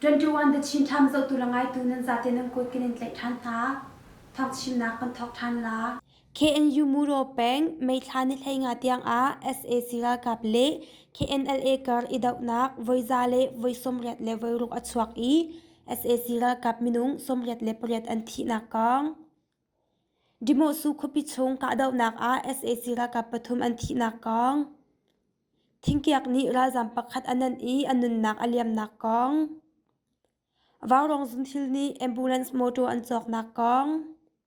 21 The Chin Time zohtu la ngaitu nan zate nan kut kan in tlaih ṭhan hna. Thawng chimnak kan thawk ṭhan la. KNU-Muro peng meithla nihleinga tiangah sac ralkap le KNLA kar i dohnak voiza le voi sawmriat le voiruk a chuak i sac ralkap minung sawmriat le pariat an thihnak kong. Dimawsu khuapi chung kahdohnak ah sac ralkap pathum an thihnak kong. Thingkiak nih ralzam pakhat a nan i a nunnak a liamnak kong. Vaurong zunthil nih ambulance motor an cawknak kong.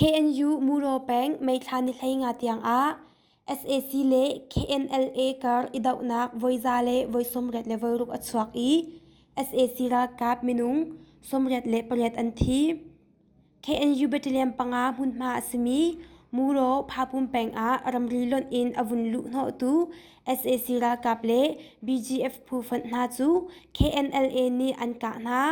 KNU Muraw peng meithla nihlei nga tiangah sac le KNLA kar i dohnak voiza le voi sawmriat le voiruk a chuak i sac ralkap minung sawmriat le pariat an thi. KNU battalion panga hmunhma a simi Muraw Phapum peng ah ramri lonh in a vun luh hnawhtu sac ralkap le BGF phu fonh hna cu KNLA nih an kah hna.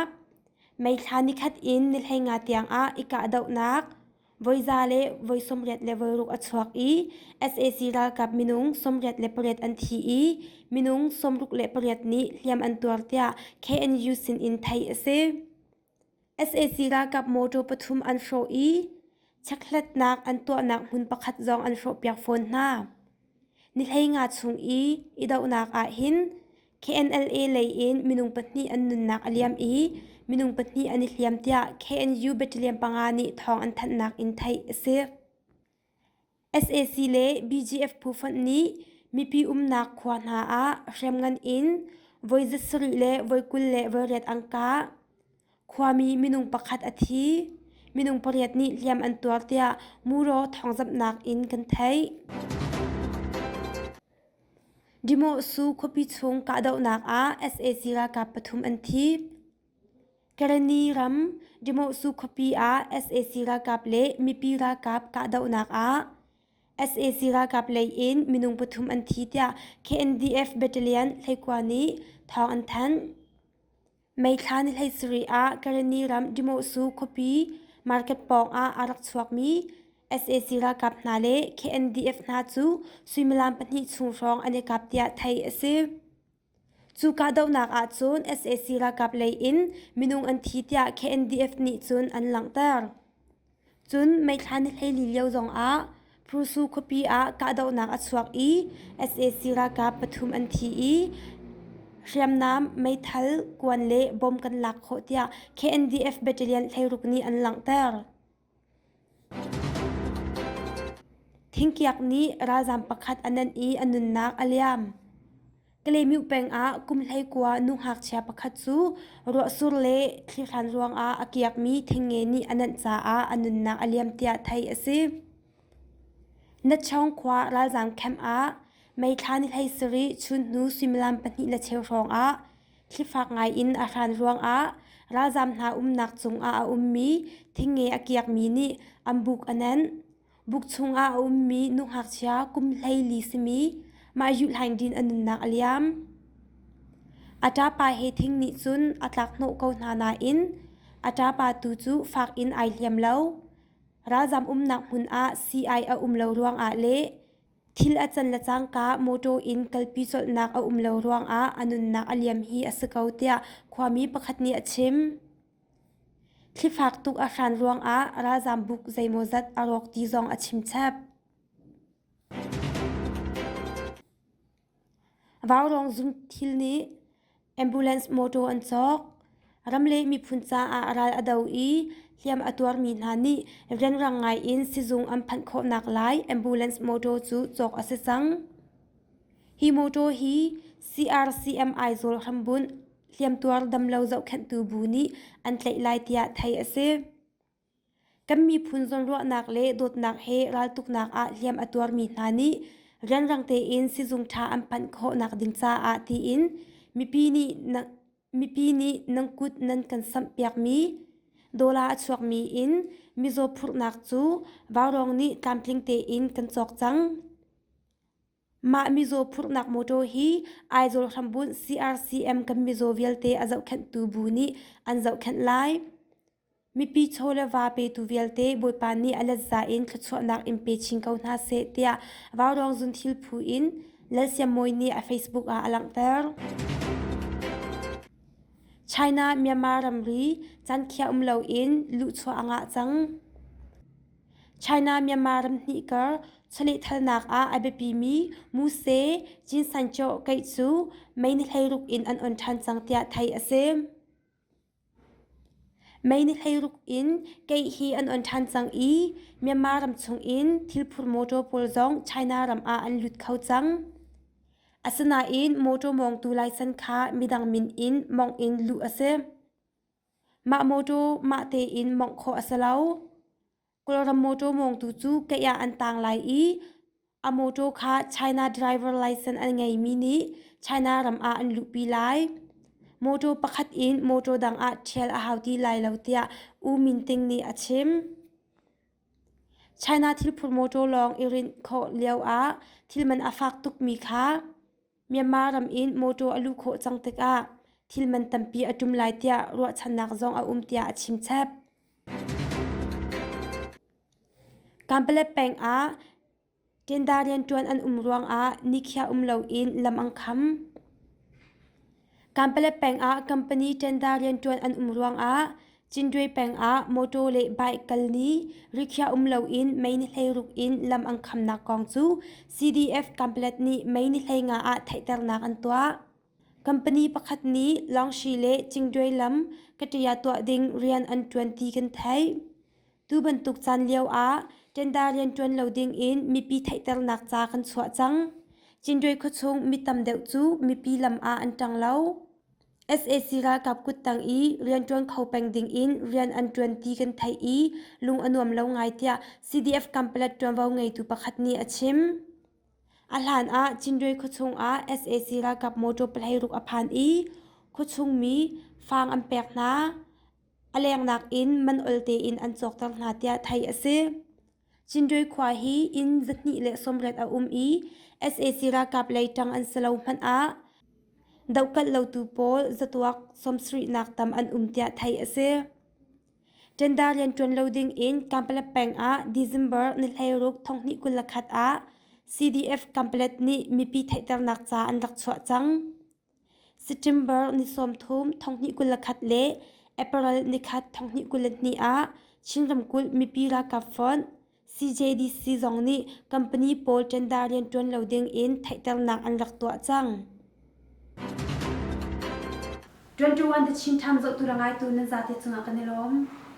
Meithla nikhat in nihleinga tiangah i kahdohnak, voiza le voi sawmriat le voiruk a chuak i sac ralkap minung sawmriat le pariat an thi i minung sawmruk le pariat nih hliam an tuar tiah KNU sinin theih a si. sac ralkap motor pathum an hrawh i chekthlatnak an tuahnak hmun pakhat zong an hrawhpiak fawn hna. Nihlei nga chung i idohnak ah hin KNLA lei in minung pahnih an nunnak a liam i minung pahnih an i hliam tiah KNU battalion panga nih thawng an thanhnak in theih a si. SAC le BGF phu fonh nih mipi umnak khua hna ah hriamngan in voi zat sarih le voi kul le voi riat angka Khuami minung pakhat a thi, minung pariat nih hliam an tuar tiah muraw thawngzamhnak in kan theih. Dimawhsu khuapi chung kahdohnak ah sac ralkap pathum an thi. Kareni ram Dimawhsu khuapi ah sac ralkap le mipi ralkap kahdohnak ah sac ralkap lei in minung pathum an thi tiah KNDF battalion Hleikua nih thawng an thanh. Meithla ni hleisarih ah Kareni ram Dimawsu khuapi market pawngah aa rak chuakmi sac ralkap hna le KNDF hna cu suimilam pahnih chung hrawng an i kap tiah theih a si. Cu kahdohnak ahcun sac ralkap lei in minung an thi tiah KNDF nih cun an langhter. Cun meithla na hlei li lio zongah Prusu khuapi ah kahdohnak a chuak i sac ralkap pathum an thi i hriamnam, meithal, kuan le bom kan lak khawh tiah KNDF battalion hleiruk nih an langhter. Thingkiak nih ralzaam pakhat a nenh i a nunnak a liam. Kalemih peng ah kum hleikua nu ngakchia pakhat cu ruahsur le thlihran ruangah a kiakmi thenge nih a nanh caah a nunnak a liam tiah theih a si. Natchaung khua ralzaam camp ah meithla ni hlei sarih chunhnu suimilam pahnih le cheu hrawngah thlifak ngaiin a hran ruangah ralzaam hna umnak cungah a ummi thenge a kiakmi nih an buk a nenh. Buk chungah a ummi nu ngakchia kum hleili simi mah yuhhlaindin a nunnak a liam. A ṭapa he thing nih cun a tlakhnawh ko hna nain a ṭapa tu cu fak in ai hliam lo. Ralzam umnak hmun ah sii a um lo ruangah le thil a can le cangka mawṭaw in kalpi colhnak a um lo ruangah a nunnak a liam hi a si ko tiah khuami pakhat nih a chim. Thlifak tuk a hran ruangah ralzaam buk zeimawzat a rawk ti zong a chimchep. Vaurawng zumthil nih ambulance motor an cawk. Ramleh miphun caah ral a do i hliam a tuarmi hna nih rianrang ngaiin sizung an phanh khawhnak lai ambulance motor cu cawk a si cang. Hi motor hi CRCM Aizawl hrambunh hliamtuar damlo zohkhenhtu bu nih an tlaih lai tiah theih a si. kan miphun zawnruahnak le dawtnak he raltuknak ah hliam a tuarmi hna nih rianrang tein sizung ṭha an phanh khawhnak ding caah tiin mipi nih mipi nih nan kut nan kan samhpiakmi dola a chuakmi in mizaw phurhnak cu vaurong nih tlamtling tein kan cawk cang. Mah mizaw phurhnak motor hi Aizawl hrambunh CRCM kan mizaw vialte a zohkhenhtu bu nih an zohkhenh lai. Mipi chaw le va petu vialte Bawipa nih a let za in thluachuahnak in pe chin ko hna seh tiah Vaurawng Zun Thil Phu in Lalsiam Mawi nih a Facebook ah a langhter. China Myanmar ramri can khiah um loin luhchuah a ngah cang. China Myanmar ramhnih kar chawlehthalnak ah a biapimi Muse Jean Sancho keih cu May ni hleiruk in an on ṭhan cang tiah theih a si. May ni hleiruk in keih hi an on ṭhan cang i Myanmar ram chungin thilphur motor pawl zong China ram ah an lut kho cang. Asinain motor mawngtu laisan kha midang min in mawngh in luh a si. Mah mawṭaw mah tein mawngh khawh a si lo. Kawlram mawṭaw mawngtu cu keih ah an tang lai i a mawṭaw kha China driver license an ngeimi nih China ram ah an luhpi lai. Mawṭaw pakhat in mawṭaw dang ah ṭhial a hau ti lai lo tiah U Min Ting nih a chim. China thilphur mawṭaw lawng i rinh khawh lioah thil man a fak tukmi kha Myanmar ram in mawṭaw a luh khawh cang tikah thil man tampi a ṭum lai tiah ruahchannak zong a um tiah a chimchep. Kanpalep peng ah tenda rianṭuan an um ruangah nikhiah um loin lam an kham. Kanpale peng ah company tender rianṭuan an um ruangah Cindwe peng ah motor le bike kal ni rikhiah um loin mei ni hlei ruk in lam an khamnak kong cu CDF Kanpalet nih mei ni hlei nga ah theihternak an tuah. Company pakhat nih Lawngsi le Cindwe lam ka ṭaya tuah ding rian an ṭuan ti kan theih. Tu bantuk caan lioah ṭenda rian ṭuan lo dingin mipi theihternak ca kan chuah cang. Cindrei khuachung mi tam deuh cu mipi lam ah an ṭang lo. sac ralkap kut tang i rianṭuan kho peng dingin rian an ṭuan ti kan theih i lung a nuam lo ngai tiah CDF Kampala ṭuanvo ngeitu pakhat nih a chim. A hlan ah Cindrei khuachung ah sac ralkap motor pahleiruk a phan i khuachung mi faang an pek hna. a lengnak in man ol tein an cawkter hna tiah theih a si. Cindroi khua hi inn zahnih le sawmriat a um i sac ralkap lei ṭang an si lo hmanh ah dohkalh lotu pawl zatuak sawmsarihnak tam an um tiah theih a si. Ṭenda rian ṭuan lo ding in Kampala peng ah December ni hleiruk thonghnih kul le khat ah CDF Kampala nih mipi theihternak ca an rak chuah cang. September ni sawmthum thonghnih kul le khat le April ni khat thonghnih kul le hnih ah Chin ramkulh mipi ralkap fonh CJDC zong nih company pawl tender rianṭuan lo ding in theihternak an rak tuah cang. 21 the Chin Times zohtu le ngaitu nan zate cungah kan i lawm.